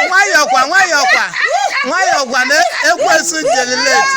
nwayọkwa nwayọkwa na ekwensu jelileti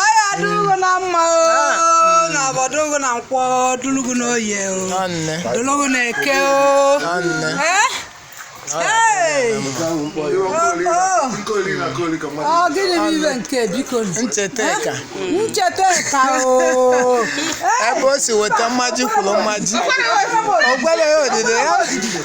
ọ ya-adụlụ gụ na mma o na afọ dụ gụ na nkwọ dụlụ gụ na oye o Nwanne. dụlụ gụ na eke o Nwanne. Eh? Hey! ọ gịnị bụ ibe nke biko Ncheta ka. ncheta ka o Ebe o si weta mmaji kwuru mmaji. O gwere ya odide ya.